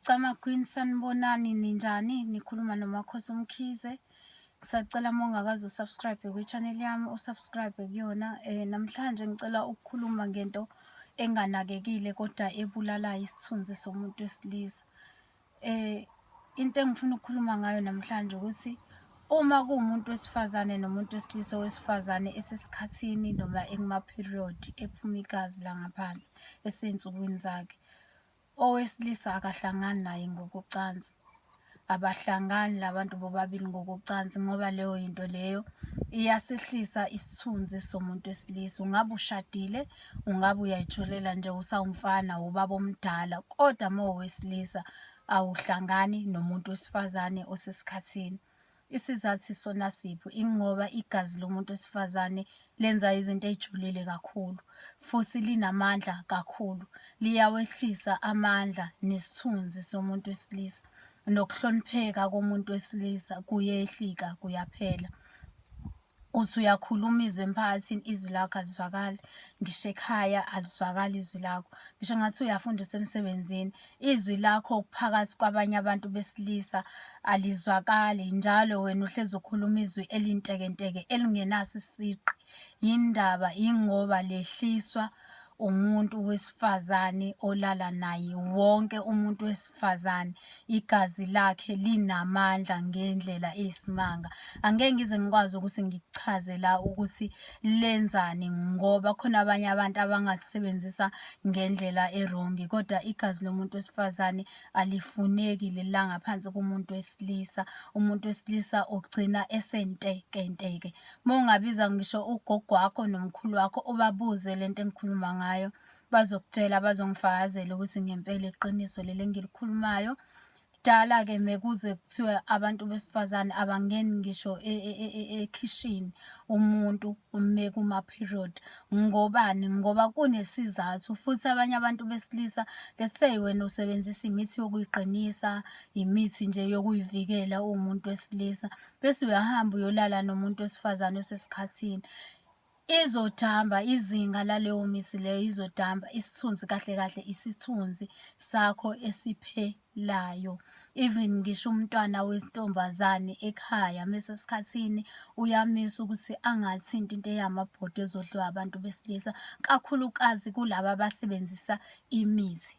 Camakwini sanibonani ninjani nikhuluma nomakhosi umkhize ngisacela uma ungakaze usubscribe kwi-channel yami usubscribe kuyona um namhlanje ngicela ukukhuluma ngento enganakekile kodwa ebulalayo isithunzi somuntu wesilisa um into engifuna ukukhuluma ngayo namhlanje ukuthi uma kuwumuntu wesifazane nomuntu wesilisa owesifazane esesikhathini noma ekumaperiod ephuma igazi langaphansi esey'nsukwini zakhe owesilisa akahlangani naye ngokocansi abahlangani labantu bobabili ngokocansi ngoba leyo yinto leyo iyasehlisa isithunzi somuntu wesilisa ungabe ushadile ungabe uyayitholela nje usawumfana ubaba omdala kodwa uma uwesilisa awuhlangani nomuntu wesifazane osesikhathini Isizathu sona siphi? Ingoba igazi lomuntu wesifazane lenza izinto ey'julile kakhulu futhi linamandla kakhulu. Liyawehlisa amandla nesithunzi somuntu wesilisa, nokuhlonipheka komuntu wesilisa kuyehlika, kuyaphela. uthi uyakhuluma izwi emphakathini izwi lakho alizwakali ngisho ekhaya alizwakali izwi lakho ngisho ngathi uyafunda usemsebenzini izwi lakho phakathi kwabanye abantu besilisa alizwakali njalo wena uhlezi ukhuluma izwi elintekenteke elingenaso isiqi yindaba yingoba lehliswa umuntu wesifazane olala naye wonke umuntu wesifazane igazi lakhe linamandla ngendlela eyisimanga angeke ngize ngikwazi ukuthi ngikuchaze la ukuthi lenzani ngoba khona abanye abantu abangasebenzisa ngendlela erongi kodwa igazi lomuntu wesifazane alifuneki lelangaphansi kumuntu wesilisa umuntu wesilisa ugcina esentekenteke Uma ungabiza ngisho ugogo wakho nomkhulu wakho ubabuze le nto engikhuluma ngayo bazokutshela bazongifakazela ukuthi ngempela iqiniso leli engilikhulumayo kudala-ke mekuze kuthiwe abantu besifazane abangeni ngisho e, e, e, ekhishini umuntu ume kuma-period ngobani ngoba kunesizathu futhi abanye abantu besilisa lesey wena usebenzisa imithi yokuyiqinisa imithi nje yokuyivikela uwumuntu wesilisa bese uyahamba uyolala nomuntu wesifazane osesikhathini izodamba izinga laleyo mithi leyo izodamba isithunzi kahle kahle isithunzi sakho esiphelayo even ngisho umntwana wentombazane ekhaya mesesikhathini uyamisa ukuthi angathinti into eyamabhodwe ezodliwa abantu besilisa kakhulukazi kulaba abasebenzisa imithi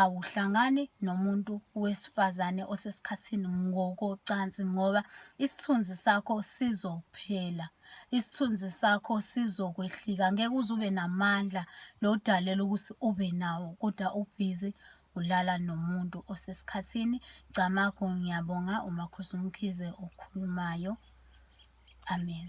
awuhlangani nomuntu wesifazane osesikhathini ngokocansi ngoba isithunzi sakho sizophela, isithunzi sakho sizokwehlika. Ngeke uze ube namandla lo odalelwe ukuthi ube nawo kodwa ubhizi ulala nomuntu osesikhathini. Camagu ngiyabonga uMakhosi uMkhize okhulumayo. Amen.